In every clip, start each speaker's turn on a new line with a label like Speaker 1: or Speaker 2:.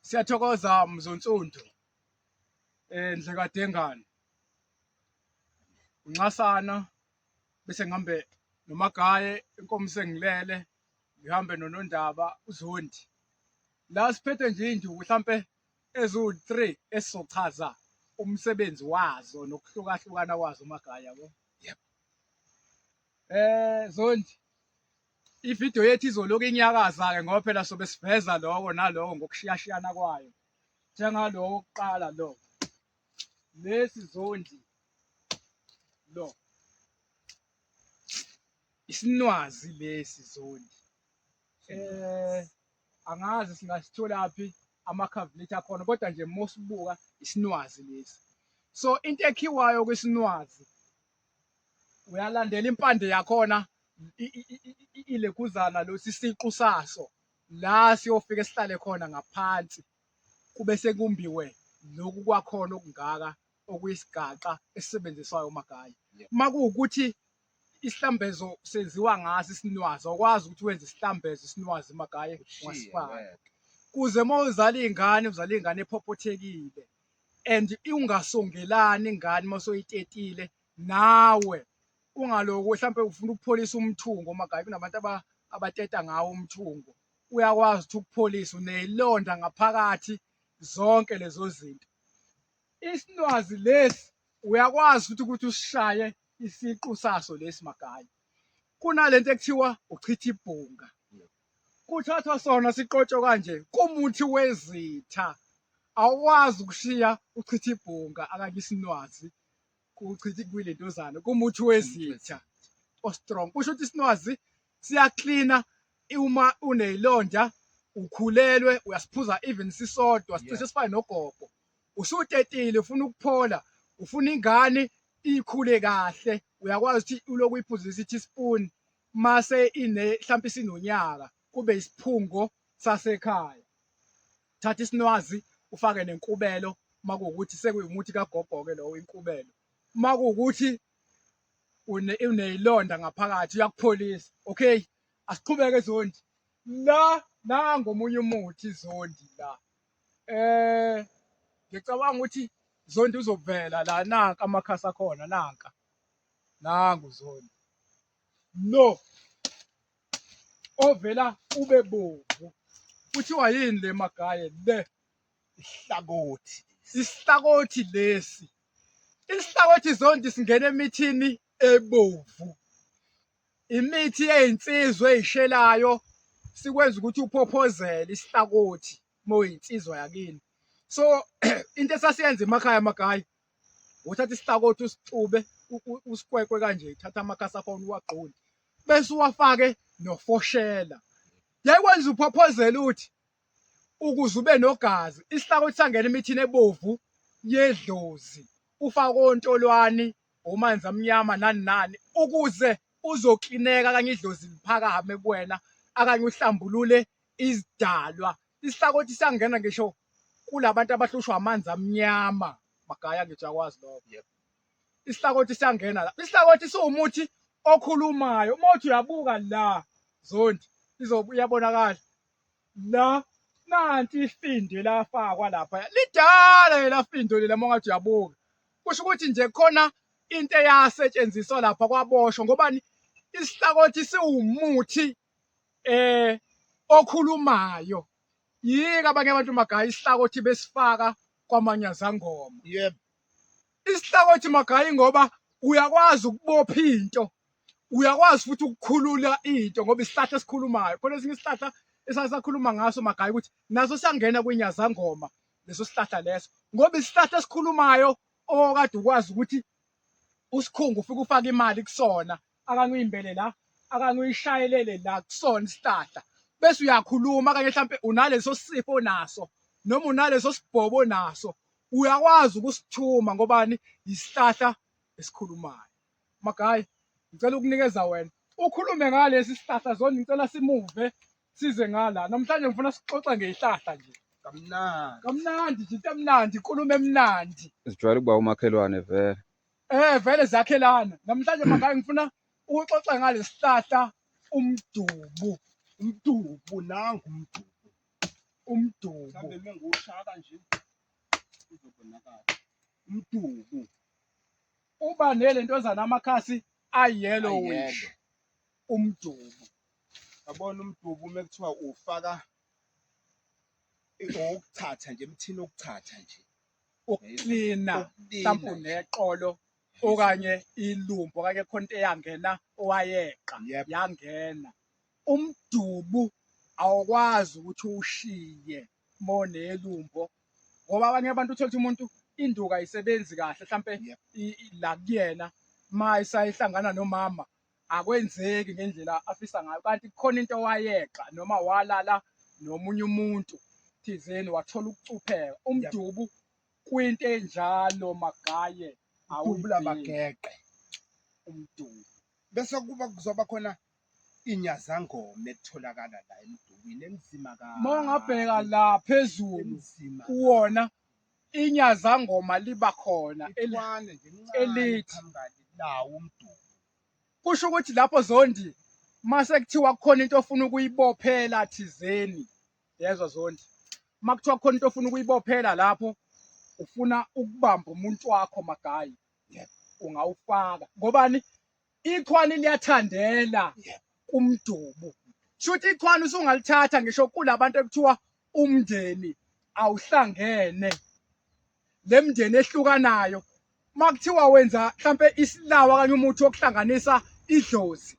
Speaker 1: Siyathokoza Mzonsundu eh Ndlekadengane unxasana bese ngihambe nomagaye inkomo sengilele ngihambe nonondaba uzondi la siphethe nje induku mhlambe ezu-3 esizochaza umsebenzi wazo nokuhlukahlukana kwazo umagaya yabo yebo eh zondi Ividiyo yethu izoloku inyakaza-ke ngoba phela sobe siveza loko naloko ngokushiyashiyana kwayo njengaloko kuqala lo lesi zondi lo isinwazi lesi zondi eh angazi singasitholaphi amakhavilethi akhona kodwa nje mosibuka isinwazi lesi so into ekhiwayo kwisinwazi uyalandela impande yakhona ileguzana lo sisiqu saso la siyofika sihlale khona ngaphansi kube sekumbiwe lokhu kwakhona okungaka okuyisigaxa esisebenziswayo umagayi uma kuwukuthi isihlambezo senziwa ngaso isinwazi awukwazi ukuthi wenze isihlambezo isinwazi magaye ungasifaka kuze uma uzala iy'ngane uzala iy'ngane ephophothekile and ungasongelani ingane uma soyitetile nawe ungaloku mhlawumpe ufuna ukupholisa umthungo uma gabe kunabantu abateta ngawo umthungo uyakwazi ukuthi ukupholisa uneyilonda ngaphakathi zonke lezo zinto isinwazi lesi uyakwazi futhi ukuthi usishaye isiqu saso lesi magaya kunalento ekuthiwa uchitha ibhunga kuthathwa sona siqotshwe kanje kumuthi wezitha awukwazi ukushiya uchitha ibhunga akanye isinwazi kuchitha kuyile ntozana kumuthi wezitha ostrong kusho ukuthi isinwazi siyaklina uma uneyilonda ukhulelwe uyasiphuza even sisodwa sicishe sifane nogogo usutetile ufuna ukuphola ufuna ingane ikhule kahle uyakwazi ukuthi uloku uyiphuzisa ithi spoon mase ine mhlawumbe isinonyaka kube isiphungo sasekhaya thatha isinwazi ufake nenkubelo makuwukuthi sekuyumuthi kagogo-ke lowo inkubelo makuwukuthi uneyilonda ngaphakathi uyakupholisa okay asiqhubeke zondi la nango omunye umuthi zondi la eh ngicabanga ukuthi zondi uzovela la nanka amakhasi akhona nanka nangu zondi lo ovela ube bomvu kuthiwa yini le magaye le isihlakothi isihlakothi lesi isihlakothi zonke singena emithini ebovu imithi eyinsizwa eyishelayo sikwenza ukuthi uphophozele isihlakothi moyinsizwa yakini so into esasiyenza emakhaya amagayi uthatha isihlakothi usixube usikwekwe kanje uthatha amakhasi akhona uwagqule bese uwafake nofoshela yekwenza uphophozela uthi ukuze ube nogazi isihlakothi sangena emithini ebovu yedlozi ufake ontolwani omanzi amnyama nani nani ukuze uzoklineka kanye idlozi liphakame kuwena akanye uhlambulule izidalwa Isihlakothi siyangena ngisho kulabantu abahlushwa amanzi amnyama magaya ngisho akwazi lokho. Yep. Isihlakothi siyangena la. Isihlakothi siwumuthi okhulumayo. Uma uthi uyabuka la zondi izobuyabonakala la nanti ifindo elafakwa lapha lidala elafindo lela uma ungathi uyabuka kusho ukuthi nje khona into eyasetshenziswa lapha kwaboshwa ngobani isihlakothi siwumuthi eh okhulumayo yika abanye abantu magaya isihlakothi besifaka kwamanyazangoma yebo isihlakothi magayi ngoba uyakwazi ukubopha into uyakwazi futhi ukukhulula into ngoba isihlahla esikhulumayo khona esinye isihlahla esasakhuluma ngaso magayi ukuthi naso siyangena kwinyazangoma leso sihlahla leso ngoba isihlahla esikhulumayo okade ukwazi ukuthi usikhungu ufike ufake imali kusona akangiyimbele la akangiyishayelele la kusona isihlahla bese uyakhuluma kanye mhlampe unaleso sifo naso noma unaleso sibhobo naso uyakwazi ukusithuma ngobani isihlahla esikhulumayo magayi ngicela ukunikeza wena ukhulume ngalesi sihlahla zona ngicela simuve size ngala namhlanje ngifuna sixoxe ngezihlahla nje kamnandi kamnandi nje into emnandi inkulumo emnandi sijwayele ukuba
Speaker 2: umakhelwane vele Eh vele
Speaker 1: zakhelana. Namhlanje makayi ngifuna ukuxoxa ngalesihlahla umdubu. Umdubu nangu umdubu. Umdubu. Mhlawumbe uma
Speaker 3: ngiwushaka nje uzobonakala. Umdubu.
Speaker 1: Uba nele ntozana amakhasi ayellowish.
Speaker 3: Umdubu. Yabona umdubu uma kuthiwa ufaka ukuthatha nje emthini okuthatha nje. ukuklina
Speaker 1: mhlawumbe
Speaker 3: uneqolo
Speaker 1: okanye ilumbo okanye khonto eyangena owayeqa yangena umdubu awukwazi ukuthi ushiye monelumbo ngoba abanye abantu uthola ukuthi umuntu induka ayisebenzi kahle mhlampe la
Speaker 3: kuyena
Speaker 1: uma isayihlangana nomama akwenzeki ngendlela afisa ngayo kanti kukhona into wayeqa noma walala nomunye umuntu thizeni wathola ukucupheka umdubu kwinto enjalo magaye awubula
Speaker 3: bageqe umdubu
Speaker 1: bese
Speaker 3: kuba kuzoba khona inyazangoma etholakala la emdubini enzima ka mongabheka la
Speaker 1: phezulu kuwona inyazangoma liba khona
Speaker 3: elithi
Speaker 1: lawo
Speaker 3: umdumo kusho ukuthi
Speaker 1: lapho zondi mase kuthiwa kukhona into ofuna ukuyibophela thizeni yezwa zondi uma kuthiwa kukhona into ofuna ukuyibophela lapho ufuna ukubamba umuntu wakho magayi
Speaker 3: ungawufaka
Speaker 1: ngobani Ikhwani liyathandela
Speaker 3: kumdubu.
Speaker 1: Shuthi ikhwani usungalithatha ngisho kulabantu ekuthiwa umndeni awuhlangene. Lemndeni ehlukanayo. Makuthiwa wenza mhlambe isilawa kanye umuthi wokuhlanganisa idlozi.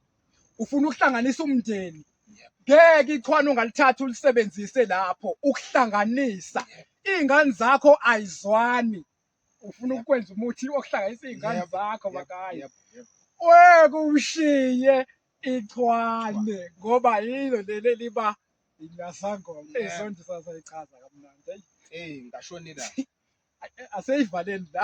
Speaker 1: Ufuna ukuhlanganisa umndeni. Ngeke ikhwani ungalithatha ulisebenzise lapho ukuhlanganisa. Izingane zakho ayizwani. ufuna ukwenza umuthi okuhlanganisa iy'ngane Yep, zakho yep, makaya
Speaker 3: yep, yep. wekushiye
Speaker 1: ichwane ngoba yilo leli eliba inyasangoma Yeah. izonto
Speaker 3: sasayichaza
Speaker 1: kamnandi Eyi, Eyi, ngashonela. aseyivaleni la